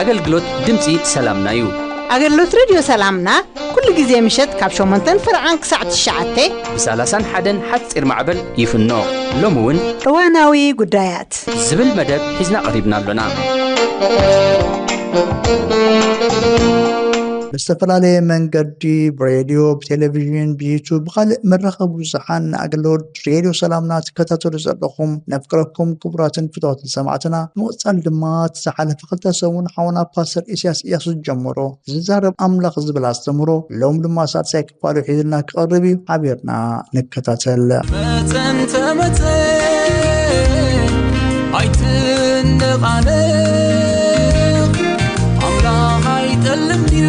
ኣገልግሎት ድምጺ ሰላምና ዩ። ኣገልግሎት ረድዮ ሰላምና ኩሉ ግዜ ምሸት ካብ ሸሞንተን ፍርቓን ክሳዕ ትሽዓተ ብሳላሳን ሓደን ሓጺር ማዕበል ይፍኖ። ሎሚ እውን እዋናዊ ጉዳያት ዝብል መደብ ሒዝና ቀሪብና ኣሎና። ብዝተፈላለየ መንገዲ ብሬድዮ፣ ብቴሌቪዥን፣ ብዩቱብ፣ ብኻልእ መራኸቢ ብዙሓን ንኣገልግሎት ሬድዮ ሰላምና ትከታተሉ ዘለኹም ነፍቅረኩም ክቡራትን ፍተውትን ሰማዕትና ምቕጻል ድማ እቲ ዝሓለፈ ክልተ ሰሙን ሓውና ፓስተር ኢሳያስ ኢያሱ ዝጀመሮ ዝዛረብ ኣምላኽ ዝብል ኣስተምህሮ ሎም ድማ ሳልሳይ ክፋሉ ሒዝልና ክቐርብ እዩ ሓቢርና ንከታተል መፀን ተመፀ ኣይትነቓነቕ ኣምላኽ ኣይጠልም ድዩ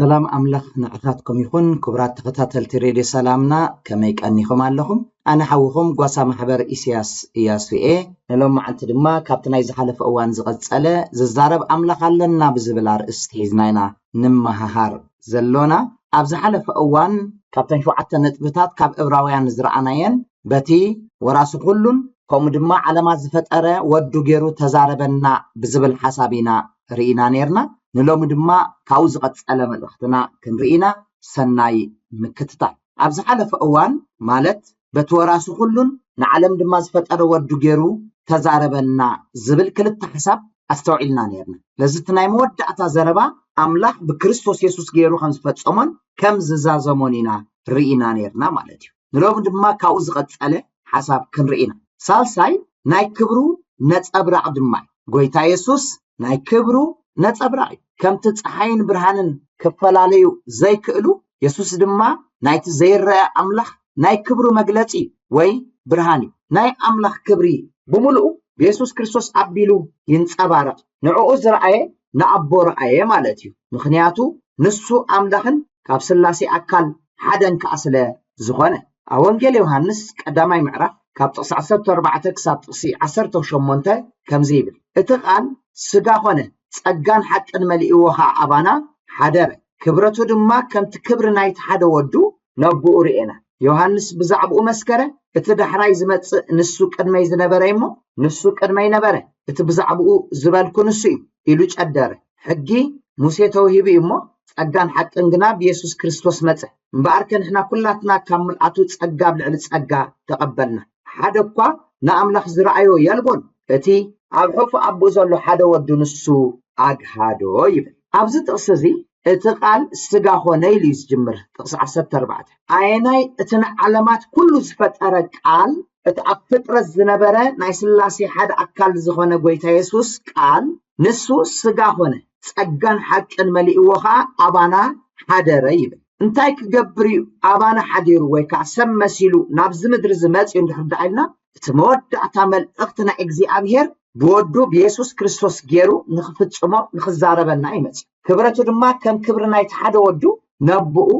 ሰላም ኣምላኽ ንዕካትኩም ይኹን ኩቡራት ተኸታተልቲ ሬድዮ ሰላምና ከመይ ቀኒኹም ኣለኹም ኣነ ሓውኹም ጓሳ ማሕበር ኢሰያስ እያሱ እየ ንሎም መዓልቲ ድማ ካብቲ ናይ ዝሓለፈ እዋን ዝቐጸለ ዝዛረብ ኣምላኽ ኣለና ብዝብል ኣርእስቲ ሒዝና ኢና ንመሃሃር ዘሎና ኣብ ዝሓለፈ እዋን ካብተን ሸውዓተ ነጥብታት ካብ እብራውያን ዝረኣናየን በቲ ወራሲ ኩሉን ከምኡ ድማ ዓለማት ዝፈጠረ ወዱ ገይሩ ተዛረበና ብዝብል ሓሳብ ኢና ርኢና ኔርና ንሎሚ ድማ ካብኡ ዝቐጸለ መልእኽትና ክንርኢ ኢና ሰናይ ምክትታል። ኣብ ዝሓለፈ እዋን ማለት በቲ ወራሲ ኩሉን ንዓለም ድማ ዝፈጠረ ወዱ ጌሩ ተዛረበና ዝብል ክልተ ሓሳብ ኣስተውዒልና ኔርና። ነዚ እቲ ናይ መወዳእታ ዘረባ ኣምላኽ ብክርስቶስ የሱስ ጌሩ ከም ዝፈጸሞን ከም ዝዛዘሞን ኢና ርኢና ኔርና ማለት እዩ። ንሎሚ ድማ ካብኡ ዝቐጸለ ሓሳብ ክንርኢ ኢና። ሳልሳይ ናይ ክብሩ ነጸብራቕ ድማ እዩ። ጎይታ የሱስ ናይ ክብሩ ነጸብራቕ እዩ። ከምቲ ጸሓይን ብርሃንን ክፈላለዩ ዘይክእሉ፣ የሱስ ድማ ናይቲ ዘይረኣ ኣምላኽ ናይ ክብሩ መግለጺ እዩ ወይ ብርሃን እዩ። ናይ ኣምላኽ ክብሪ ብምሉኡ ብየሱስ ክርስቶስ ኣቢሉ ይንጸባረቕ። ንዕኡ ዝረኣየ ንኣቦ ረኣየ ማለት እዩ፣ ምኽንያቱ ንሱ ኣምላኽን ካብ ሥላሴ ኣካል ሓደን ከኣ ስለ ዝኾነ። ኣብ ወንጌል ዮሓንስ ቀዳማይ ምዕራፍ ካብ ጥቕሲ ዓሰርተ ኣርባዕተ ክሳብ ጥቕሲ ዓሰርተው ሸሞንተ ከምዚ ይብል እቲ ቃል ሥጋ ኮነ ጸጋን ሓቅን መሊእዎ ከኣ ኣባና ሓደረ ክብረቱ ድማ ከምቲ ክብሪ ናይቲ ሓደ ወዱ ነቦኡ ርኤና ዮሓንስ ብዛዕባኡ መስከረ እቲ ዳሕራይ ዝመጽእ ንሱ ቅድመይ ዝነበረ እዩሞ ንሱ ቅድመይ ነበረ እቲ ብዛዕባኡ ዝበልኩ ንሱ እዩ ኢሉ ጨደረ ሕጊ ሙሴ ተውሂቡ እዩ እሞ ጸጋን ሓቅን ግና ብየሱስ ክርስቶስ መጸ እምበኣር ከንሕና ኩላትና ካብ ምልኣቱ ጸጋ ኣብ ልዕሊ ጸጋ ተቀበልና ሓደ እኳ ንኣምላኽ ዝረኣዮ የልቦን እቲ ኣብ ሑፍ ኣቦኡ ዘሎ ሓደ ወዱ ንሱ ኣግሃዶ ይብል ኣብዚ ጥቅሲ እዚ እቲ ቃል ስጋ ኾነ ኢሉ እዩ ዝጅምር ጥቅሲ ዓሰርተ ኣርባዕተ ኣየናይ እቲ ንዓለማት ኩሉ ዝፈጠረ ቃል እቲ ኣብ ፍጥረት ዝነበረ ናይ ስላሴ ሓደ ኣካል ዝኾነ ጎይታ የሱስ ቃል ንሱ ስጋ ኮነ ጸጋን ሓቅን መሊእዎ ከኣ ኣባና ሓደረ ይብል እንታይ ክገብር እዩ ኣባና ሓዲሩ ወይ ከዓ ሰብ መሲሉ ናብዚ ምድሪ እዚ መፅዩ እንድሕር ደኣ ኢልና እቲ መወዳእታ መልእኽቲ ናይ እግዚኣብሄር ብወዱ ብየሱስ ክርስቶስ ገይሩ ንኽፍጽሞ ንኽዛረበና እዩ መፅዩ ክብረቱ ድማ ከም ክብሪ ናይቲ ሓደ ወዱ ነቦኡ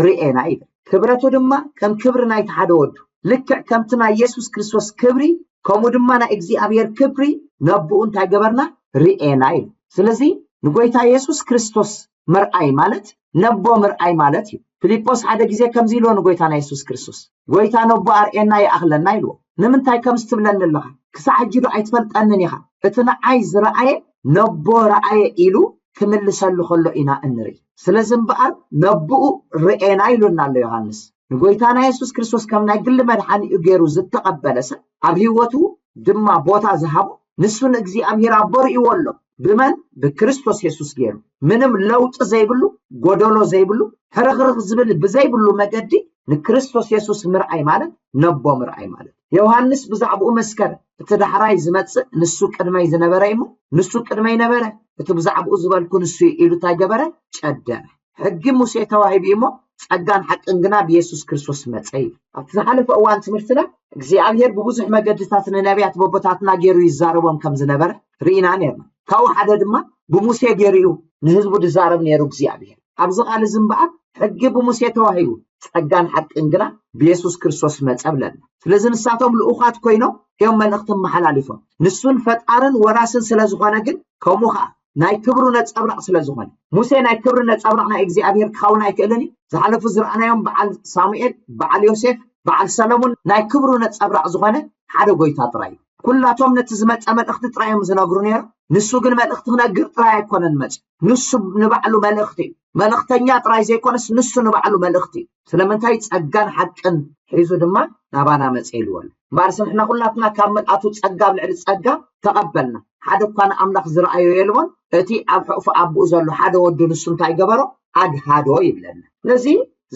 ርኤና ይብል ክብረቱ ድማ ከም ክብሪ ናይቲ ሓደ ወዱ ልክዕ ከምቲ ናይ የሱስ ክርስቶስ ክብሪ ከምኡ ድማ ናይ እግዚኣብሔር ክብሪ ነብኡ እንታይ ገበርና ርኤና እዩ ስለዚ ንጎይታ የሱስ ክርስቶስ ምርኣይ ማለት ነቦ ምርኣይ ማለት እዩ ፊልጶስ ሓደ ግዜ ከምዚ ኢልዎ ንጎይታና የሱስ ክርስቶስ ጎይታ ነቦ ኣርእየና ይኣኽለና ኢልዎ። ንምንታይ ከምዚ ትብለኒ ኣለኻ? ክሳዕ ሕጂ ዶ ኣይትፈልጠንን ኢኻ? እቲ ንዓይ ዝረኣየ ነቦ ረኣየ ኢሉ ክምልሰሉ ከሎ ኢና እንርኢ። ስለዚ እምበኣር ነቦኡ ርኤና ኢሉና ኣሎ ዮሃንስ። ንጎይታና የሱስ ክርስቶስ ከም ናይ ግሊ መድሓኒኡ ገይሩ ዝተቐበለ ሰብ፣ ኣብ ህይወቱ ድማ ቦታ ዝሃቦ፣ ንሱ ንእግዚኣብሔር ኣቦ ርእይዎ ኣሎ ብመን ብክርስቶስ የሱስ ገይሩ ምንም ለውጢ ዘይብሉ ጎደሎ ዘይብሉ ሕርኽርኽ ዝብል ብዘይብሉ መገዲ ንክርስቶስ የሱስ ምርኣይ ማለት ነቦ ምርኣይ ማለት ዮሃንስ ብዛዕባኡ መስከረ እቲ ዳሕራይ ዝመጽእ ንሱ ቅድመይ ዝነበረ እሞ ንሱ ቅድመይ ነበረ እቲ ብዛዕባኡ ዝበልኩ ንሱ ኢሉ እንታይ ገበረ ጨደረ ሕጊ ሙሴ ተዋሂቡ እዩ እሞ ጸጋን ሓቅን ግና ብየሱስ ክርስቶስ መጸ ይብል። ኣብቲ ዝሓለፈ እዋን ትምህርትና እግዚኣብሄር ብብዙሕ መገድታት ንነብያት በቦታትና ገይሩ ይዛረቦም ከም ዝነበረ ርኢና ኔርና። ካብኡ ሓደ ድማ ብሙሴ ገይሩ እዩ ንህዝቡ ዝዛረብ ነይሩ እግዚኣብሄር። ኣብዚ ቃል እዚ እምበኣር ሕጊ ብሙሴ ተዋሂቡ ጸጋን ሓቅን ግና ብየሱስ ክርስቶስ መጸ ብለና። ስለዚ ንሳቶም ልኡኻት ኮይኖም እዮም መልእኽቲ ኣመሓላሊፎም። ንሱን ፈጣርን ወራስን ስለ ዝኾነ ግን ከምኡ ኸኣ ናይ ክብሩ ነጸብራቕ ስለ ዝኾነ። ሙሴ ናይ ክብሪ ነጸብራቕ ናይ እግዚኣብሔር ክኸውን ኣይክእልን እዩ? ዝሓለፉ ዝረኣናዮም በዓል ሳሙኤል፣ በዓል ዮሴፍ፣ በዓል ሰለሙን ናይ ክብሩ ነጸብራቕ ዝኾነ ሓደ ጎይታ ጥራይ እዩ። ኩላቶም ነቲ ዝመጸ መልእኽቲ ጥራይ እዮም ዝነግሩ ነይሮም፣ ንሱ ግን መልእኽቲ ክነግር ጥራይ ኣይኮነን መጺኡ። ንሱ ንባዕሉ መልእኽቲ እዩ። መልእኽተኛ ጥራይ ዘይኮነስ ንሱ ንባዕሉ መልእኽቲ እዩ። ስለምንታይ ጸጋን ሓቅን ሒዙ ድማ ናባና መጸ ኢልዎ ኣሎ። እምበኣርስ ንሕና ዅላትና ካብ ምልኣቱ ጸጋ ኣብ ልዕሊ ጸጋ ተቐበልና። ሓደ እኳ ንኣምላኽ ዝረኣዮ የልቦን፣ እቲ ኣብ ሕቝፊ ኣቦኡ ዘሎ ሓደ ወዱ ንሱ እንታይ ገበሮ? ኣግሃዶ ይብለና። ስለዚ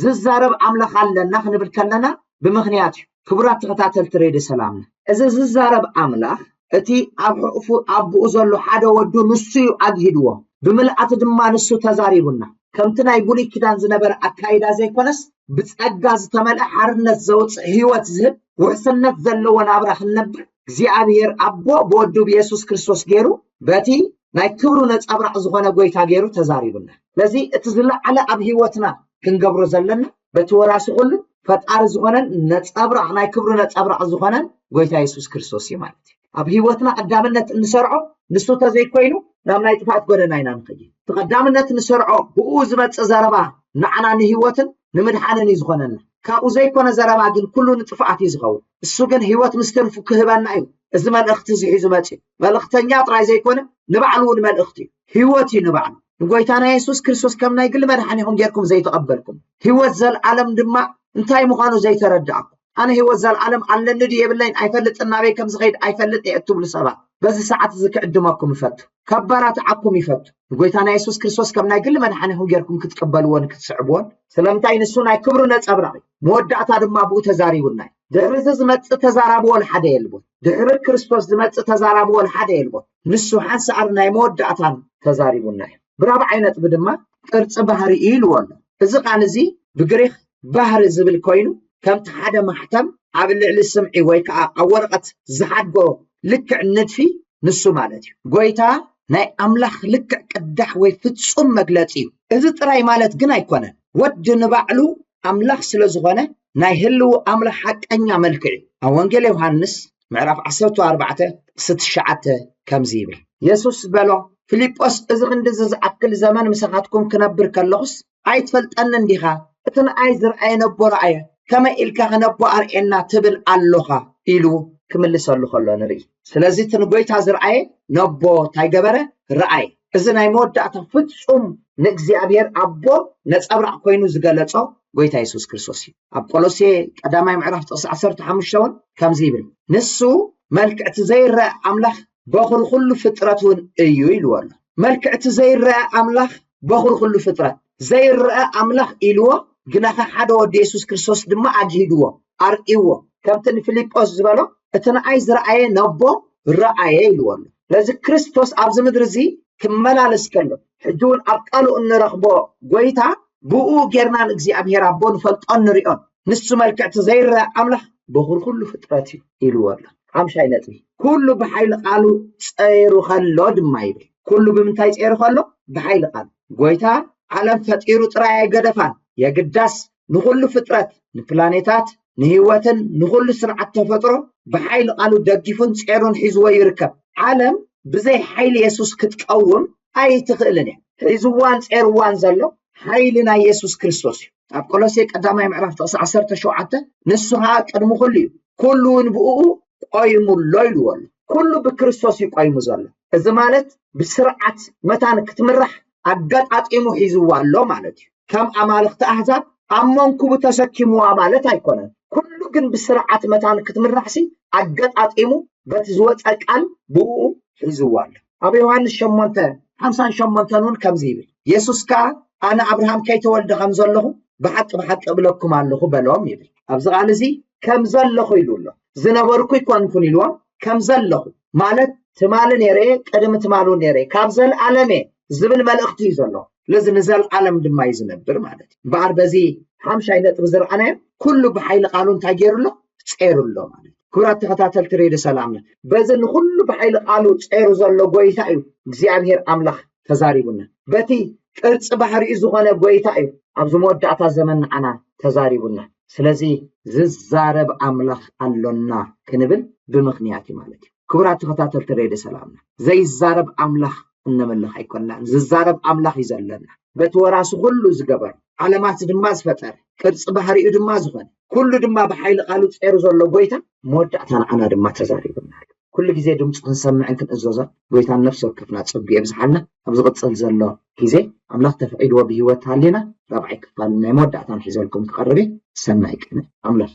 ዝዛረብ ኣምላኽ ኣለና ክንብል ከለና ብምኽንያት እዩ። ክቡራት ተኸታተልቲ ሬድዮ ሰላምና፣ እዚ ዝዛረብ ኣምላኽ እቲ ኣብ ሕቑፉ ኣቦኡ ዘሎ ሓደ ወዱ ንሱ እዩ ኣግሂድዎ፣ ብምልኣት ድማ ንሱ ተዛሪቡና። ከምቲ ናይ ብሉይ ኪዳን ዝነበረ ኣካይዳ ዘይኮነስ፣ ብጸጋ ዝተመልአ ሓርነት ዘውጽእ ሕይወት ዝህብ ውሕስነት ዘለዎ ናብራ ክንነብር እግዚኣብሔር ኣቦ ብወዱ ብየሱስ ክርስቶስ ገይሩ በቲ ናይ ክብሩ ነጸብራቕ ዝኾነ ጎይታ ገይሩ ተዛሪቡና። ስለዚ እቲ ዝለዓለ ኣብ ሕይወትና ክንገብሮ ዘለና በቲ ወራሲ ኩሉ ፈጣሪ ዝኾነን ነጸብራቕ ናይ ክብሩ ነጸብራቕ ዝኾነን ጎይታ የሱስ ክርስቶስ እዩ ማለት እዩ ኣብ ህይወትና ቀዳምነት እንሰርዖ ንሱ ተዘይኮይኑ ናብ ናይ ጥፍኣት ጎደና ኢና ንኸይድ እቲ ቀዳምነት ንሰርዖ ብኡ ዝመጽእ ዘረባ ንዓና ንህይወትን ንምድሓንን እዩ ዝኾነና ካብኡ ዘይኮነ ዘረባ ግን ኩሉ ንጥፍኣት እዩ ዝኸውን እሱ ግን ህይወት ምስትርፉ ክህበና እዩ እዚ መልእኽቲ እዚ ሒዙ መፅኡ መልእኽተኛ ጥራይ ዘይኮነ ንባዕሉ እውን መልእኽቲ እዩ ህይወት እዩ ንባዕሉ ንጎይታና የሱስ ክርስቶስ ከም ናይ ግሊ መድሓኒኹም ጌርኩም ዘይተቐበልኩም ህይወት ዘለዓለም ድማ እንታይ ምዃኑ ዘይተረዳእኩም ኣነ ህይወት ዘለዓለም ኣለኒ ድዩ የብለይን ኣይፈልጥ እናበይ ከም ዝኸይድ ኣይፈልጥ እየ እትብሉ ሰባት በዚ ሰዓት እዚ ክዕድመኩም ይፈቱ ከባራትዓኩም ይፈቱ ንጎይታና የሱስ ክርስቶስ ከም ናይ ግሊ መድሓኒኹም ጌርኩም ክትቀበልዎን ክትስዕብዎን ስለምንታይ ንሱ ናይ ክብሩ ነፀብራቕ እዩ መወዳእታ ድማ ብኡ ተዛሪቡና እዩ ድሕሪ እዚ ዝመፅእ ተዛራብዎ ሓደ የልቦን ድሕሪ ክርስቶስ ዝመፅእ ተዛራብዎ ሓደ የልቦን ንሱ ሓንሰኣር ናይ መወዳእታን ተዛሪቡና እዩ ብራብዓይ ነጥቢ ድማ ቅርፂ ባህሪ እዩ ኢልዎ ኣሎ እዚ ቃል እዚ ብግሪክ ባህሪ ዝብል ኮይኑ ከምቲ ሓደ ማሕተም ኣብ ልዕሊ ስምዒ ወይ ከዓ ኣብ ወረቐት ዝሓድጎ ልክዕ ንድፊ ንሱ ማለት እዩ ጎይታ ናይ ኣምላኽ ልክዕ ቅዳሕ ወይ ፍፁም መግለፂ እዩ እዚ ጥራይ ማለት ግን ኣይኮነን ወዲ ንባዕሉ ኣምላኽ ስለ ዝኾነ ናይ ህልዉ ኣምላኽ ሓቀኛ መልክዕ እዩ ኣብ ወንጌል ዮሃንስ ምዕራፍ 14-9 ከምዚ ይብል የሱስ በሎ ፊልጶስ እዚ ክንዲዚ ዝኣክል ዘመን ምሳኻትኩም ክነብር ከለኹስ ኣይትፈልጠንን ዲኻ እቲ ንኣይ ዝርኣየ ነቦ ረኣየ ከመይ ኢልካ ኸነቦ ኣርእየና ትብል ኣሎኻ ኢሉ ክምልሰሉ ከሎ ንርኢ ስለዚ እቲ ንጎይታ ዝረኣየ ነቦ እንታይ ገበረ ረኣየ እዚ ናይ መወዳእታ ፍጹም ንእግዚኣብሔር ኣቦ ነጸብራቕ ኮይኑ ዝገለጾ ጎይታ የሱስ ክርስቶስ እዩ ኣብ ቆሎሴ ቀዳማይ ምዕራፍ ጥቕሲ 15 እውን ከምዚ ይብል ንሱ መልክዕቲ ዘይረአ ኣምላኽ በኹሪ ኩሉ ፍጥረት እውን እዩ ኢልዎ ኣሎ መልክዕቲ ዘይረአ ኣምላኽ በኹሪ ኩሉ ፍጥረት ዘይረኣ ኣምላኽ ኢልዎ፣ ግናኸ ሓደ ወዲ የሱስ ክርስቶስ ድማ ኣግሂድዎ፣ ኣርእይዎ፣ ከምቲ ንፊልጶስ ዝበሎ፣ እቲ ንኣይ ዝረኣየ ነቦ ረኣየ ኢልዎ ኣሎ። ስለዚ ክርስቶስ ኣብዚ ምድሪ እዚ ክመላለስ ከሎ፣ ሕጂ እውን ኣብ ቃሉ እንረኽቦ ጎይታ ብእኡ ጌርና ንእግዚኣብሄር ኣቦ ንፈልጦን ንሪኦን፣ ንሱ መልክዕ እቲ ዘይረኣ ኣምላኽ በዅሪ ኵሉ ፍጥረት እዩ ኢልዎ ኣሎ። ሓምሻይ ነጥቢ፣ ኵሉ ብሓይሊ ቃሉ ጸይሩ ከሎ ድማ ይብል። ኵሉ ብምንታይ ጸይሩ ከሎ? ብሓይሊ ቃሉ። ጐይታ ዓለም ፈጢሩ ጥራይ ኣይገደፋን፣ የግዳስ ንዅሉ ፍጥረት፣ ንፕላኔታት፣ ንህይወትን ንዅሉ ስርዓት ተፈጥሮ ብሓይሊ ቓሉ ደጊፉን ጼሩን ሒዝዎ ይርከብ። ዓለም ብዘይ ሓይሊ የሱስ ክትቀውም ኣይትኽእልን እያ። ሒዝዋን ጼርዋን ዘሎ ሓይሊ ናይ የሱስ ክርስቶስ እዩ። ኣብ ቆሎሴ ቀዳማይ ምዕራፍ ጥቕሲ ዓሰርተ ሸውዓተ ንሱ ከዓ ቅድሚ ኩሉ እዩ ኩሉ እውን ብእኡ ቆይሙ ኣሎ ኢልዎ ኣሎ ኩሉ ብክርስቶስ እዩ ቆይሙ ዘሎ እዚ ማለት ብስርዓት መታን ክትምራሕ ኣጋጣጢሙ ሒዝዋ ኣሎ ማለት እዩ ከም ኣማልኽቲ ኣህዛብ ኣብ መንኩቡ ተሰኪምዋ ማለት ኣይኮነን ኩሉ ግን ብስርዓት መታን ክትምራሕሲ ኣገጣጢሙ በቲ ዝወፀ ቃል ብእኡ ሒዝዋ ኣሎ ኣብ ዮሃንስ ሸሞንተ ሓምሳን ሸሞንተን እውን ከምዚ ይብል የሱስ ከዓ ኣነ ኣብርሃም ከይተወልደ ከም ዘለኹ ብሓቂ ብሓቂ እብለኩም ኣለኹ በሎም ይብል ኣብዚ ቃል እዚ ከም ዘለኹ ኢሉ ኣሎ ዝነበርኩ ይኮንኩን ኢልዎም ከም ዘለኹ ማለት ትማሊ ነይረ ቅድሚ ትማሊ እውን ነይረ ካብ ዘለኣለም እየ ዝብል መልእኽቲ እዩ ዘለዎ ስለዚ ንዘለዓለም ድማ እዩ ዝነብር ማለት እዩ እምበኣር በዚ ሓምሻይ ነጥቢ ዝረኣናዮ ኩሉ ብሓይሊ ቃሉ እንታይ ገይሩ ኣሎ ፀሩ ኣሎ ማለት እዩ ክብራት ተኸታተልቲ ሬድዮ ሰላምና በዚ ንኩሉ ብሓይሊ ቃሉ ፀሩ ዘሎ ጎይታ እዩ እግዚኣብሄር ኣምላኽ ተዛሪቡና በቲ ቅርፂ ባህሪኡ ዝኾነ ጎይታ እዩ ኣብዚ መወዳእታ ዘመን ንዓና ተዛሪቡና ስለዚ ዝዛረብ ኣምላኽ ኣሎና ክንብል ብምኽንያት እዩ ማለት እዩ ክቡራት ተኸታተልቲ ሬድዮ ሰላምና ዘይዛረብ ኣምላኽ እነምልኽ ኣይኮናን ዝዛረብ ኣምላኽ እዩ ዘለና በቲ ወራሲ ኩሉ ዝገበሮ ዓለማት ድማ ዝፈጠረ ቅርፂ ባህሪኡ ድማ ዝኾነ ኩሉ ድማ ብሓይሊ ቃሉ ፀሩ ዘሎ ጎይታ መወዳእታ ንዓና ድማ ተዛሪቡና ኣሎ ኩሉ ግዜ ድምፁ ክንሰምዕን ክንእዘዞን ጎይታ ነፍሲ ወከፍና ፀጉ የብዝሓልና ኣብ ዝቕፅል ዘሎ ግዜ ኣምላኽ ተፈቒድዎ ብሂወት ሃሊና ራብዓይ ክፋል ናይ መወዳእታን ሒዘልኩም ክቐርብ እየ ሰናይ ቅነ ኣምላኽ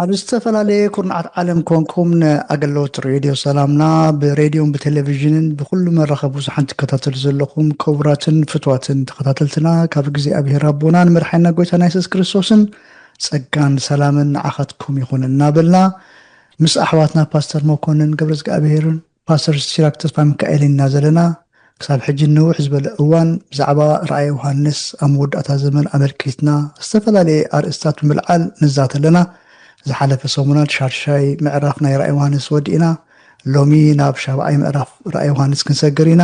ኣብ ዝተፈላለየ ኩርናዓት ዓለም ኮንኩም ንኣገለዎት ሬድዮ ሰላምና ብሬድዮን ብቴሌቪዥንን ብኩሉ መራኸቢ ብዙሓን ትከታተሉ ዘለኹም ክቡራትን ፍትዋትን ተኸታተልትና ካብ እግዚኣብሔር ኣቦናን መድሓኒና ጎይታና የሱስ ክርስቶስን ጸጋን ሰላምን ንዓኻትኩም ይኹን እናበልና ምስ ኣሕዋትና ፓስተር መኮንን ገብረዝግኣብሔርን ፓስተር ሲራክ ተስፋሚካኤል ኢና ዘለና። ክሳብ ሕጂ ንንውሕ ዝበለ እዋን ብዛዕባ ራእይ ዮሃንስ ኣብ መወዳእታ ዘመን ኣመልኪትና ዝተፈላለየ ኣርእስታት ብምልዓል ንዛተ ኣለና። ዝሓለፈ ሰሙናት ሻድሻይ ምዕራፍ ናይ ራእይ ዮሃንስ ወዲእና ሎሚ ናብ ሻብዓይ ምዕራፍ ራእይ ዮሃንስ ክንሰግር ኢና።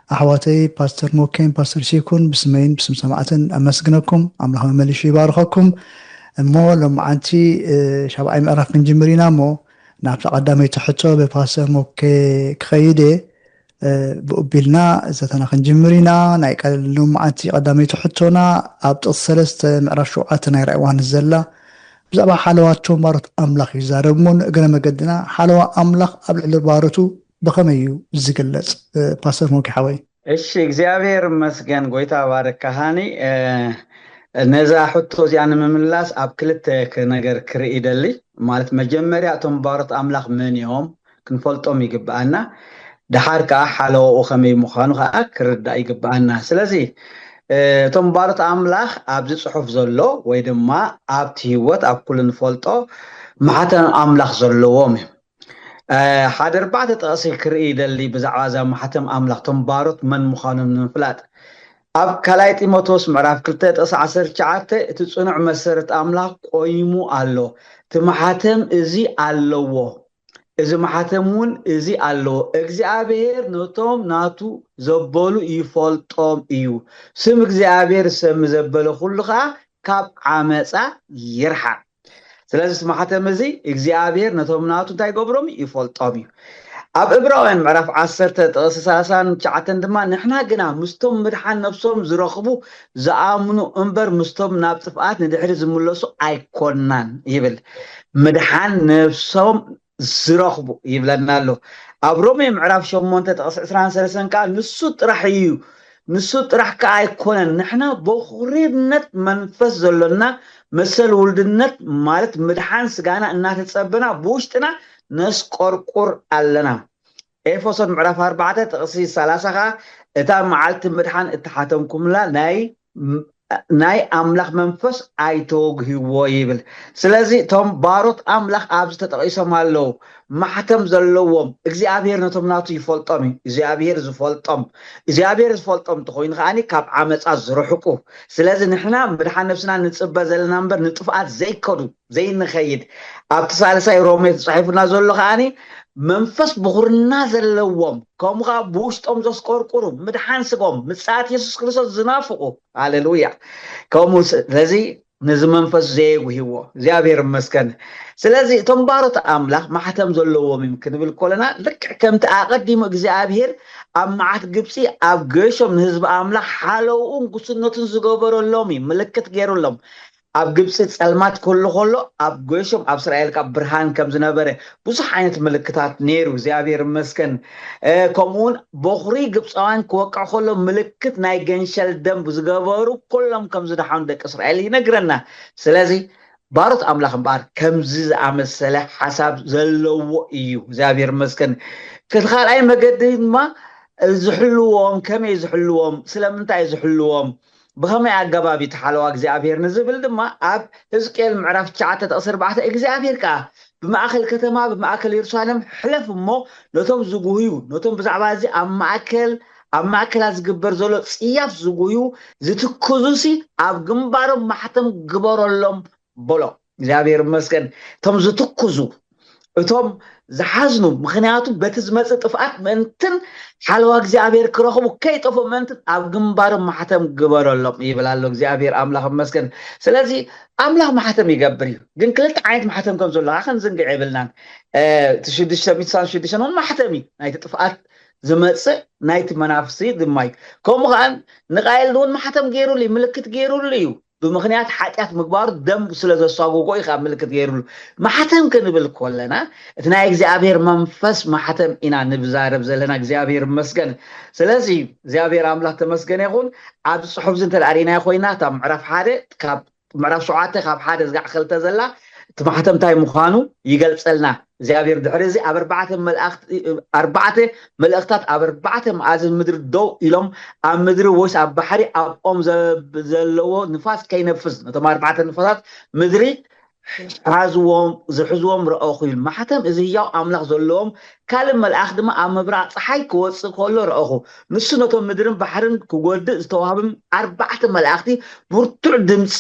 ኣሕዋተይ ፓስተር ሞኬን ፓስተር ሲኩን ብስመይን ብስም ሰማዕትን ኣመስግነኩም። ኣምላኽ መመሊሹ ይባርኸኩም። እሞ ሎምዓንቲ ሻብዓይ ምዕራፍ ክንጅምር ኢና እሞ ናብታ ቀዳመይቲ ሕቶ ብፓሰ ሞኬ ክኸይድ እየ ብኡ ቢልና ዘተና ክንጅምር ኢና ናይ ቀልሎም መዓልቲ ቀዳመይቲ ሕቶና ኣብ ጥቕሲ ሰለስተ ምዕራፍ ሸውዓተ ናይ ራእይ ዮሃንስ ዘላ ብዛዕባ ሓለዋ እቶም ባሮት ኣምላኽ ይዛረብ እሞ ንእግረ መገድና ሓለዋ ኣምላኽ ኣብ ልዕሊ ባሮቱ ብኸመይ እዩ ዝግለጽ ፓሰ ሞኬ ሓወይ እሺ እግዚኣብሔር ይመስገን ጎይታ ይባርካ ሃኒ ነዛ ሕቶ እዚኣ ንምምላስ ኣብ ክልተ ነገር ክርኢ ደሊ ማለት መጀመርያ እቶም ባሮት ኣምላኽ መን እዮም ክንፈልጦም ይግብኣና ደሓር ከዓ ሓለዋኡ ከመይ ምዃኑ ከዓ ክርዳእ ይግብኣና ስለዚ እቶም ባሮት ኣምላኽ ኣብዚ ፅሑፍ ዘሎ ወይ ድማ ኣብቲ ህይወት ኣብ ኩሉ ንፈልጦ ማሕተም ኣምላኽ ዘለዎም እዮም ሓደ ኣርባዕተ ጥቕሲ ክርኢ ይደሊ ብዛዕባ እዛ ማሕተም ኣምላኽ እቶም ባሮት መን ምዃኖም ንምፍላጥ ኣብ ካልኣይ ጢሞቴዎስ ምዕራፍ ክልተ ጥቕሲ ዓሰርተ ትሽዓተ እቲ ጽኑዕ መሰረት ኣምላኽ ቆይሙ ኣሎ እቲ ማሓተም እዚ ኣለዎ እዚ ማሓተም እውን እዚ ኣለዎ እግዚኣብሄር ነቶም ናቱ ዘበሉ ይፈልጦም እዩ ስም እግዚኣብሄር ዝሰሚ ዘበለ ኩሉ ከኣ ካብ ዓመጻ ይርሓቕ ስለዚ እቲ ማሕተም እዚ እግዚኣብሔር ነቶም ናቱ እንታይ ይገብሮም እዩ ይፈልጦም እዩ ኣብ እብራውያን ምዕራፍ ዓሰርተ ጥቕሲ ሰላሳን ትሽዓተን ድማ ንሕና ግና ምስቶም ምድሓን ነብሶም ዝረኽቡ ዝኣምኑ እምበር ምስቶም ናብ ጥፍኣት ንድሕሪ ዝምለሱ ኣይኮናን ይብል ምድሓን ነብሶም ዝረኽቡ ይብለና ኣሎ ኣብ ሮሜ ምዕራፍ ሸሞንተ ጥቕሲ ዕስራን ሰለስተን ከዓ ንሱ ጥራሕ እዩ ንሱ ጥራሕ ከዓ ኣይኮነን ንሕና በኹሪነት መንፈስ ዘሎና መሰል ውልድነት ማለት ምድሓን ስጋና እናተጸበና ብውሽጥና ነስቆርቁር ኣለና ኤፌሶን ምዕራፍ ኣርባዕተ ጥቕሲ ሰላሳ ኸኣ እታ መዓልቲ ምድሓን እተሓተምኩምላ ናይ ናይ ኣምላኽ መንፈስ ኣይተወግህዎ ይብል። ስለዚ እቶም ባሮት ኣምላኽ ኣብዚ ተጠቒሶም ኣለዉ። ማሕተም ዘለዎም እግዚኣብሄር ነቶም ናቱ ይፈልጦም እዩ። እግዚኣብሄር ዝፈልጦም እግዚኣብሄር ዝፈልጦም እንተኾይኑ ከኣ ካብ ዓመጻ ዝርሕቁ ስለዚ ንሕና ምድሓን ነፍስና ንጽበ ዘለና እምበር ንጥፍኣት ዘይከዱ ዘይንኸይድ ኣብቲ ሳልሳይ ሮሜ ተጻሒፉና ዘሎ ከኣኒ መንፈስ ብኹርና ዘለዎም ከምኡ ከዓ ብውሽጦም ዘስቆርቁሩ ምድሓን ስጎም ምጽኣት የሱስ ክርስቶስ ዝናፍቑ ሃሌሉያ ከምኡ ስለዚ ነዚ መንፈስ ዘየጉህዎ እግዚኣብሔር ይመስገን ስለዚ እቶም ባሮት ኣምላኽ ማሕተም ዘለዎም እዮም ክንብል ኮለና ልክዕ ከምቲ ኣቐዲሙ እግዚኣብሔር ኣብ መዓት ግብፂ ኣብ ገሾም ንህዝቢ ኣምላኽ ሓለውኡን ጉስነቱን ዝገበረሎም እዩ ምልክት ገይሩሎም ኣብ ግብጺ ጸልማት ከሎ ከሎ ኣብ ጎሾም ኣብ እስራኤል ካብ ብርሃን ከም ዝነበረ ብዙሕ ዓይነት ምልክታት ነይሩ እግዚኣብሔር ይመስገን ከምኡውን ቦኽሪ ግብጻውያን ክወቅዕ ከሎ ምልክት ናይ ገንሸል ደም ዝገበሩ ኩሎም ከም ዝደሓኑ ደቂ እስራኤል ይነግረና ስለዚ ባሮት ኣምላኽ እምበኣር ከምዚ ዝኣመሰለ ሓሳብ ዘለዎ እዩ እግዚኣብሔር ይመስገን ካልኣይ መገዲ ድማ ዝሕልዎም ከመይ ዝሕልዎም ስለምንታይ ዝሕልዎም ብኸመይ ኣገባብ እዩ ተሓለዋ እግዚኣብሄር ንዝብል ድማ ኣብ ህዝቅኤል ምዕራፍ ትሽዓተ ጥቕሲ ኣርባዕተ እግዚኣብሄር ከኣ ብማእከል ከተማ ብማእከል የሩሳሌም ሕለፍ እሞ ነቶም ዝጉህዩ ነቶም ብዛዕባ እዚ ኣብ ማእከል ኣብ ማእከላ ዝግበር ዘሎ ጽያፍ ዝጉህዩ ዝትክዙሲ ኣብ ግንባሮም ማሕተም ግበረሎም በሎ እግዚኣብሔር ይመስገን እቶም ዝትኩዙ እቶም ዝሓዝኑ ምክንያቱ በቲ ዝመፅእ ጥፍኣት ምእንትን ሓለዋ እግዚኣብሔር ክረኽቡ ከይጠፍኡ ምእንትን ኣብ ግንባሮም ማሕተም ግበረሎም ይብል ኣሎ እግዚኣብሔር ኣምላኽ ይመስገን ስለዚ ኣምላኽ ማሕተም ይገብር እዩ ግን ክልተ ዓይነት ማሕተም ከም ዘሎ ክንዝንግዕ የብልናን እቲ ሽዱሽተ ሚእቲ ሳን ሽዱሽተን እውን ማሕተም እዩ ናይቲ ጥፍኣት ዝመፅእ ናይቲ መናፍሲ ድማ እዩ ከምኡ ከዓ ንቃየል እውን ማሕተም ገይሩሉ እዩ ምልክት ገይሩሉ እዩ ብምኽንያት ሓጢኣት ምግባሩ ደም ስለ ዘሳጎጎ እዩ ካብ ምልክት ገይሩሉ ማሕተም ክንብል ኮለና እቲ ናይ እግዚኣብሔር መንፈስ ማሕተም ኢና ንብዛረብ ዘለና እግዚኣብሔር ይመስገን ስለዚ እግዚኣብሔር ኣምላክ ተመስገነ ይኹን ኣብዚ ፅሑፍ እዚ እንተ ሪእናዮ ኮይና እታ ምዕራፍ ሓደ ካብ ምዕራፍ ሸውዓተ ካብ ሓደ ዝጋዕ ክልተ ዘላ እቲ ማሕተም እንታይ ምዃኑ ይገልፀልና እግዚኣብሄር ድሕሪ እዚ ኣብ ኣርባዕተ መልኣኽት ኣርባዕተ መልእኽታት ኣብ ኣርባዕተ መኣዝን ምድሪ ደው ኢሎም ኣብ ምድሪ ወይስ ኣብ ባሕሪ ኣብ ኦም ዘለዎ ንፋስ ከይነፍስ ነቶም ኣርባዕተ ንፋሳት ምድሪ ሓዝዎም ዝሕዝዎም ረኣኹ ኢሉ ማሕተም እዚ ህያው ኣምላኽ ዘለዎም ካልእ መልኣኽ ድማ ኣብ ምብራቕ ፀሓይ ክወፅእ ከሎ ረኣኹ ንሱ ነቶም ምድርን ባሕርን ክጎድእ ዝተዋህብም ኣርባዕተ መላእኽቲ ብርቱዕ ድምጺ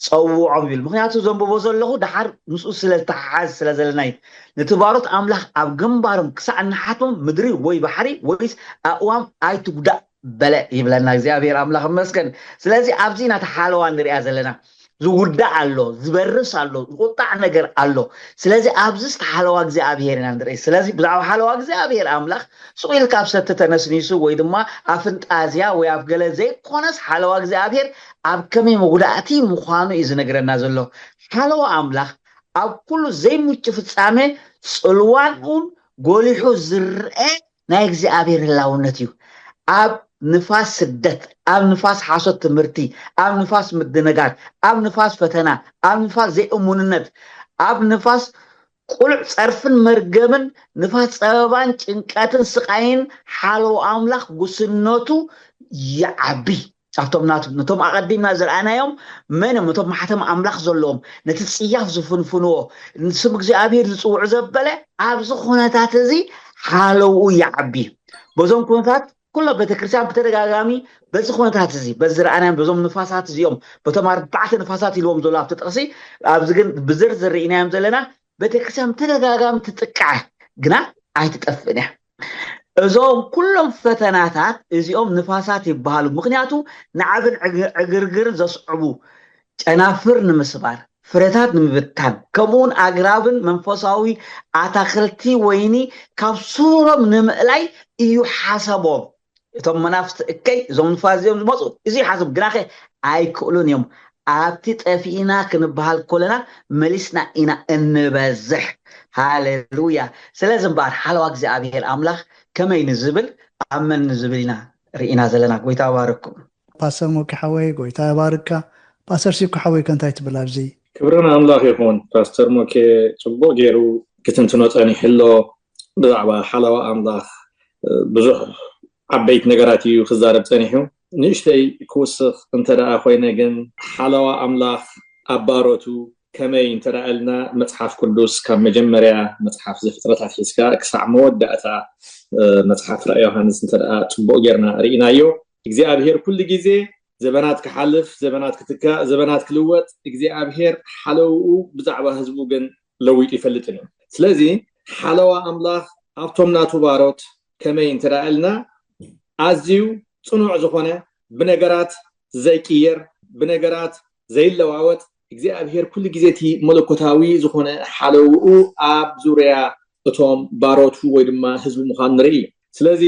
ጸውዖም ይብል። ምኽንያቱ ዘንብቦ ዘለኹ ደሓር ምስኡ ስለ ዝተሓሓዝ ስለ ዘለና እዩ። ነቲ ባሮት ኣምላኽ ኣብ ግንባሮም ክሳዕ እንሓትሞም ምድሪ ወይ ባሕሪ ወይስ ኣእዋም ኣይትጉዳእ በለ ይብለና። እግዚኣብሄር ኣምላኽ ይመስገን ስለዚ ኣብዚ ናታ ሓለዋ ንሪኣ ዘለና። ዝውዳእ ኣሎ ዝበርስ ኣሎ ዝቁጣዕ ነገር ኣሎ ስለዚ ኣብዚ ስተ ሓለዋ እግዚኣብሄር ኢና ንርኢ ስለዚ ብዛዕባ ሓለዋ እግዚኣብሄር ኣምላኽ ሱቕ ኢልካ ኣብ ሰቲ ተነስኒሱ ወይ ድማ ኣብ ፍንጣዝያ ወይ ኣብ ገለ ዘይኮነስ ሓለዋ እግዚኣብሄር ኣብ ከመይ መጉዳእቲ ምዃኑ እዩ ዝነግረና ዘሎ ሓለዋ ኣምላኽ ኣብ ኩሉ ዘይምቹ ፍጻሜ ጽልዋን እውን ጎሊሑ ዝርአ ናይ እግዚኣብሔር ህላውነት እዩ ኣብ ንፋስ ስደት ኣብ ንፋስ ሓሶት ትምህርቲ ኣብ ንፋስ ምድንጋር ኣብ ንፋስ ፈተና ኣብ ንፋስ ዘይእሙንነት ኣብ ንፋስ ቁልዕ ጸርፍን መርገምን ንፋስ ጸበባን ጭንቀትን ስቃይን ሓለው ኣምላኽ ጉስነቱ ይዓቢ ኣብቶም ናቱ ነቶም ኣቐዲምና ዝረኣናዮም መን እዮም እቶም ማሕተም ኣምላኽ ዘለዎም ነቲ ጽያፍ ዝፍንፍንዎ ንስም እግዚኣብሄር ዝጽውዑ ዘበለ ኣብዚ ኩነታት እዚ ሓለውኡ ይዓቢ በዞም ኩነታት ኩሎ ቤተ ክርስቲያን ብተደጋጋሚ በዚ ኩነታት እዚ በዚ ዝረኣናዮም በዞም ንፋሳት እዚኦም በቶም ኣርባዕተ ንፋሳት ኢልዎም ዘሎ ኣብቲ ጥቕሲ ኣብዚ ግን ብዝርዝር ርኢናዮም ዘለና ቤተ ክርስቲያን ብተደጋጋሚ ትጥቅዐ ግና ኣይትጠፍእን እያ እዞም ኩሎም ፈተናታት እዚኦም ንፋሳት ይበሃሉ። ምኽንያቱ ናዕብን ዕግርግርን ዘስዕቡ ጨናፍር ንምስባር፣ ፍረታት ንምብታን፣ ከምኡውን ኣግራብን መንፈሳዊ ኣታኽልቲ ወይኒ ካብ ሱሮም ንምእላይ እዩ ሓሰቦም። እቶም መናፍስቲ እከይ እዞም ንፋስ እዚኦም ዝመፁ እዚ ይሓስቡ ግናኸ ኣይክእሉን እዮም ኣብቲ ጠፊእና ክንበሃል ኮለና መሊስና ኢና እንበዝሕ ሃሌሉያ ስለዚ እምበኣር ሓለዋ እግዚኣብሄር ኣምላኽ ከመይ ንዝብል ኣብ መን ንዝብል ኢና ርኢና ዘለና ጎይታ ባረኩም ፓስተር ሞኪ ሓወይ ጎይታ ይባርካ ፓስተር ሲኩ ሓወይ ከንታይ ትብል ኣብዚ ክብሪ ንኣምላኽ ይኹን ፓስተር ሞኬ ጽቡቕ ገይሩ ክትንትኖ ጸኒሑ ኣሎ ብዛዕባ ሓላዋ ኣምላኽ ብዙሕ ዓበይቲ ነገራት እዩ ክዛረብ ጸኒሑ። ንእሽተይ ክውስኽ እንተደኣ ኮይነ ግን ሓላዋ ኣምላኽ ኣብ ባሮቱ ከመይ እንተደኣ እልና መጽሓፍ ቅዱስ ካብ መጀመርያ መጽሓፍ ዘፍጥረት ኣትሒዝካ ክሳዕ መወዳእታ መጽሓፍ ራእይ ዮሃንስ እንተደኣ ጽቡቕ ጌርና ርኢናዮ እግዚኣብሄር ኩሉ ግዜ ዘበናት ክሓልፍ ዘበናት ክትካእ ዘበናት ክልወጥ እግዚኣብሄር ሓለውኡ ብዛዕባ ህዝቡ ግን ለዊጡ ኣይፈልጥን እዩ ስለዚ ሓለዋ ኣምላኽ ኣብቶም ናቱ ባሮት ከመይ እንተደኣ ኢልና ኣዝዩ ጽኑዕ ዝኾነ ብነገራት ዘይቅየር ብነገራት ዘይለዋወጥ እግዚኣብሄር ኩሉ ግዜ እቲ መለኮታዊ ዝኾነ ሓለውኡ ኣብ ዙርያ እቶም ባሮቱ ወይ ድማ ህዝቢ ምዃኑ ንርኢ ስለዚ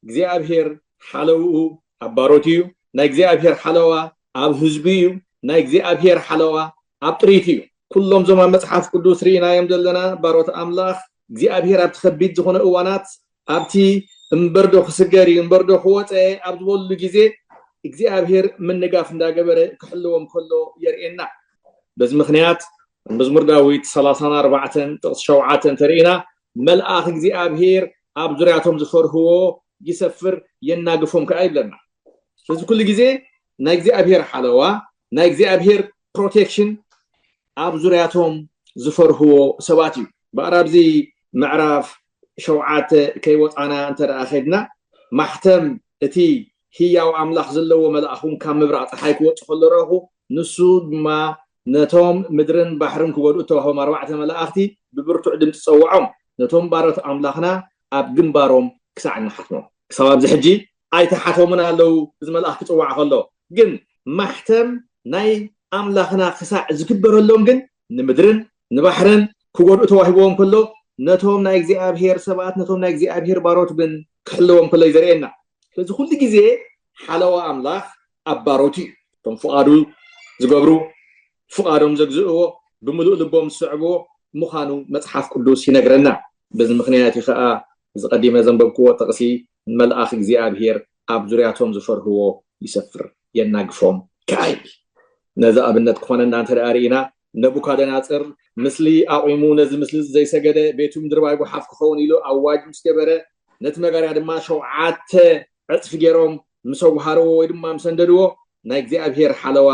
እግዚኣብሄር ሓለውኡ ኣብ ባሮት እዩ ናይ እግዚኣብሄር ሓለዋ ኣብ ህዝቢ እዩ ናይ እግዚኣብሄር ሓለዋ ኣብ ጥሪት እዩ ኩሎም ዞም ኣብ መጽሓፍ ቅዱስ ርኢናዮም ዘለና ባሮት ኣምላኽ እግዚኣብሔር ኣብቲ ከቢድ ዝኾነ እዋናት ኣብቲ እምበርዶ ክስገር እዩ እምበርዶ ክወፀ ኣብ ዝበሉ ግዜ እግዚኣብሔር ምንጋፍ እንዳገበረ ክሕልዎም ከሎ የርእየና በዚ ምክንያት መዝሙር ዳዊት 34 ጥቕስ ሸውዓተ እንተርኢና መልኣኽ እግዚኣብሄር ኣብ ዙርያቶም ዝፈርህዎ ይሰፍር የናግፎም ከዓ ይብለና ስለዚ ኩሉ ግዜ ናይ እግዚኣብሄር ሓለዋ ናይ እግዚኣብሄር ፕሮቴክሽን ኣብ ዙርያቶም ዝፈርህዎ ሰባት እዩ እምበኣር ኣብዚ ምዕራፍ ሸውዓተ ከይወፃና እንተደኣ ከድና ማሕተም እቲ ህያው ኣምላኽ ዘለዎ መልኣኽ እውን ካብ ምብራቕ ፀሓይ ክወፁ ከሎ ረኹ ንሱ ድማ ነቶም ምድርን ባሕርን ክጎድኡ እተዋህቦም ኣርባዕተ መላእኽቲ ብብርቱዕ ድምፂ ፀውዖም ነቶም ባሮት ኣምላኽና ኣብ ግንባሮም ክሳዕ እንሓትሞም ክሳብ ኣብዚ ሕጂ ኣይተሓቶምን ኣለዉ እዚ መልኣኽ ክጽዋዕ ከሎ ግን ማሕተም ናይ ኣምላኽና ክሳዕ ዝግበረሎም ግን ንምድርን ንባሕርን ክጎድኡ ተዋሂብዎም ከሎ ነቶም ናይ እግዚኣብሔር ሰባት ነቶም ናይ እግዚኣብሔር ባሮት ግን ክሕልዎም ከሎ እዩ ዘርእየና ስለዚ ኩሉ ግዜ ሓለዋ ኣምላኽ ኣብ ባሮት እዩ እቶም ፍቓዱ ዝገብሩ ፍቓዶም ዘግዝእዎ ብምሉእ ልቦም ዝስዕብዎ ምዃኑ መጽሓፍ ቅዱስ ይነግረና። በዚ ምኽንያት እዩ ኸኣ እዚ ቀዲመ ዘንበብክዎ ጥቕሲ መልኣኽ እግዚኣብሄር ኣብ ዙርያቶም ዝፈርህዎ ይሰፍር የናግፎም ከኣ ይብል። ነዚ ኣብነት ክኾነና እንተ ደኣ ርኢና ነቡካደናጽር ምስሊ ኣቑሙ ነዚ ምስሊ እዚ ዘይሰገደ ቤቱ ምድርባይ ጓሓፍ ክኸውን ኢሉ ኣዋጅ ምስ ገበረ ነቲ መጋርያ ድማ ሸውዓተ ዕጽፊ ገይሮም ምስ ኣዋሃርዎ ወይ ድማ ምስ ኣንደድዎ ናይ እግዚኣብሄር ሓለዋ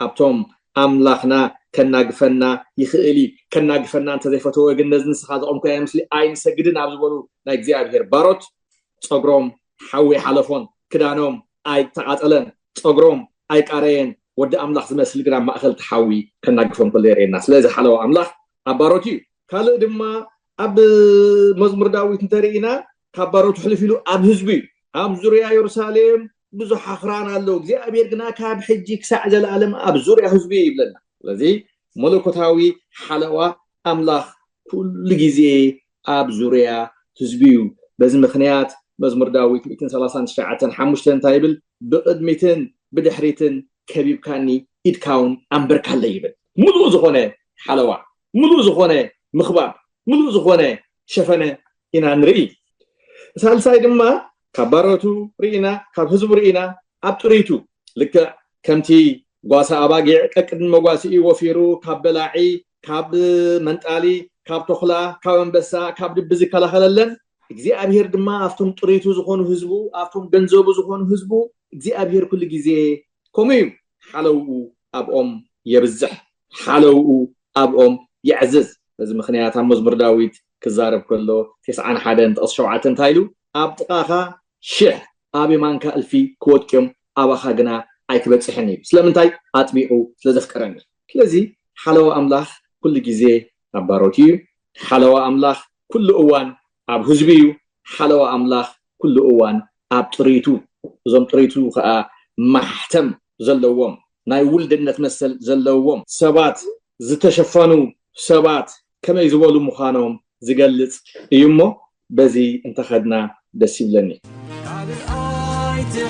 ኣብቶም ኣምላኽና ከናግፈና ይኽእል እዩ። ከናግፈና እንተ ዘይፈተወ ግን ነዚ ንስኻ ዘቖምካዮ ምስሊ ኣይንሰግድን ኣብ ዝበሉ ናይ እግዚኣብሄር ባሮት ጸጉሮም ሓዊ ኣይሓለፎን፣ ክዳኖም ኣይተቓጸለን፣ ጸጉሮም ኣይቃረየን፣ ወዲ ኣምላኽ ዝመስል ግን ኣብ ማእከል እቲ ሓዊ ከናግፎም ከሎ የርእየና። ስለዚ ሓለዋ ኣምላኽ ኣብ ባሮቱ እዩ። ካልእ ድማ ኣብ መዝሙር ዳዊት እንተ ርኢና ካብ ባሮቱ ሕልፍ ኢሉ ኣብ ህዝቡ እዩ። ኣብ ዙርያ የሩሳሌም ብዙሕ ኣኽራን ኣሎ፣ እግዚኣብሔር ግና ካብ ሕጂ ክሳዕ ዘለኣለም ኣብ ዙርያ ህዝቡ እዩ ይብለና። ስለዚ መለኮታዊ ሓለዋ ኣምላኽ ኩሉ ግዜ ኣብ ዙርያ ህዝቡ እዩ። በዚ ምኽንያት መዝሙር ዳዊት ሚእትን ሰላሳን ትሽዓተን ሓሙሽተን እንታይ ይብል? ብቕድሚትን ብድሕሪትን ከቢብካኒ፣ ኢድካውን ኣንብርካለይ ይብል። ምሉእ ዝኾነ ሓለዋ፣ ምሉእ ዝኾነ ምኽባብ፣ ምሉእ ዝኾነ ሸፈነ ኢና ንርኢ ሳልሳይ ድማ ካብ ባሮቱ ርኢና ካብ ህዝቡ ርኢና ኣብ ጥሪቱ ልክዕ ከምቲ ጓሳ ኣባጊዕ ቀቅድሚ መጓሲኡ ወፊሩ ካብ በላዒ ካብ መንጣሊ ካብ ተኹላ ካብ ኣንበሳ ካብ ድቢ ዝከላኸለለን እግዚኣብሄር ድማ ኣብቶም ጥሪቱ ዝኾኑ ህዝቡ ኣብቶም ገንዘቡ ዝኾኑ ህዝቡ እግዚኣብሄር ኩሉ ግዜ ከምኡ እዩ ሓለውኡ ኣብኦም የብዝሕ ሓለውኡ ኣብኦም የዕዝዝ በዚ ምኽንያት ኣብ መዝሙር ዳዊት ክዛረብ ከሎ ቴስዓን ሓደን ጥቕስ ሸውዓተ እንታይ ኢሉ ኣብ ጥቓኻ ሽሕ ኣብ የማንካ እልፊ ክወድቅዮም ኣባኻ ግና ኣይክበጽሕን እዩ ስለምንታይ ኣጥቢቑ ስለ ዘፍቅረኒ ስለዚ ሓለዋ ኣምላኽ ኩሉ ግዜ ኣብ ባሮቱ እዩ ሓለዋ ኣምላኽ ኩሉ እዋን ኣብ ህዝቢ እዩ ሓለዋ ኣምላኽ ኩሉ እዋን ኣብ ጥሪቱ እዞም ጥሪቱ ከኣ ማሕተም ዘለዎም ናይ ውልድነት መሰል ዘለዎም ሰባት ዝተሸፈኑ ሰባት ከመይ ዝበሉ ምዃኖም ዝገልጽ እዩ እሞ በዚ እንተኸድና ደስ ይብለኒ። ካልእ ኣይትሕተት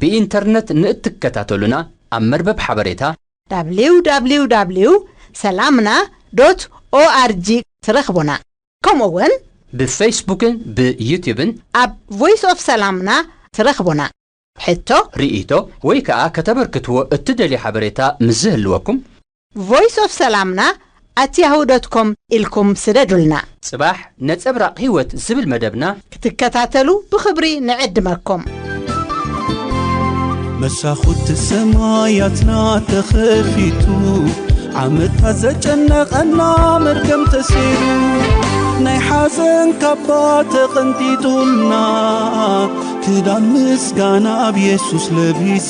ብኢንተርነት ንእትከታተሉና ኣብ መርበብ ሓበሬታ። www ሰላምና ዶት ኦኣርጂ ትረኽቡና ከምኡ ውን። ብፈይስቡክን ብዩትዩብን። ኣብ ቮይስ ኦፍ ሰላምና ትረኽቡና። ሕቶ። ርኢቶ ወይ ከኣ ከተበርክትዎ እትደልዩ ሓበሬታ ምስ ዝህልወኩም። ቮይስ ኦፍ ሰላምና ኣት ያሁ ዶት ኮም ኢልኩም ስደዱልና። ጽባሕ ነጸብራቕ ህይወት ዝብል መደብና። ክትከታተሉ ብኽብሪ ንዕድመኩም። መሻኹቲ ሰማያትና ተኸፊቱ ዓመታት ዘጨነቐና መርገም ተሰይሩ ናይ ሓዘን ካባ ተቐንጢጡልና ክዳን ምስጋና ኣብ የሱስ ለቢስና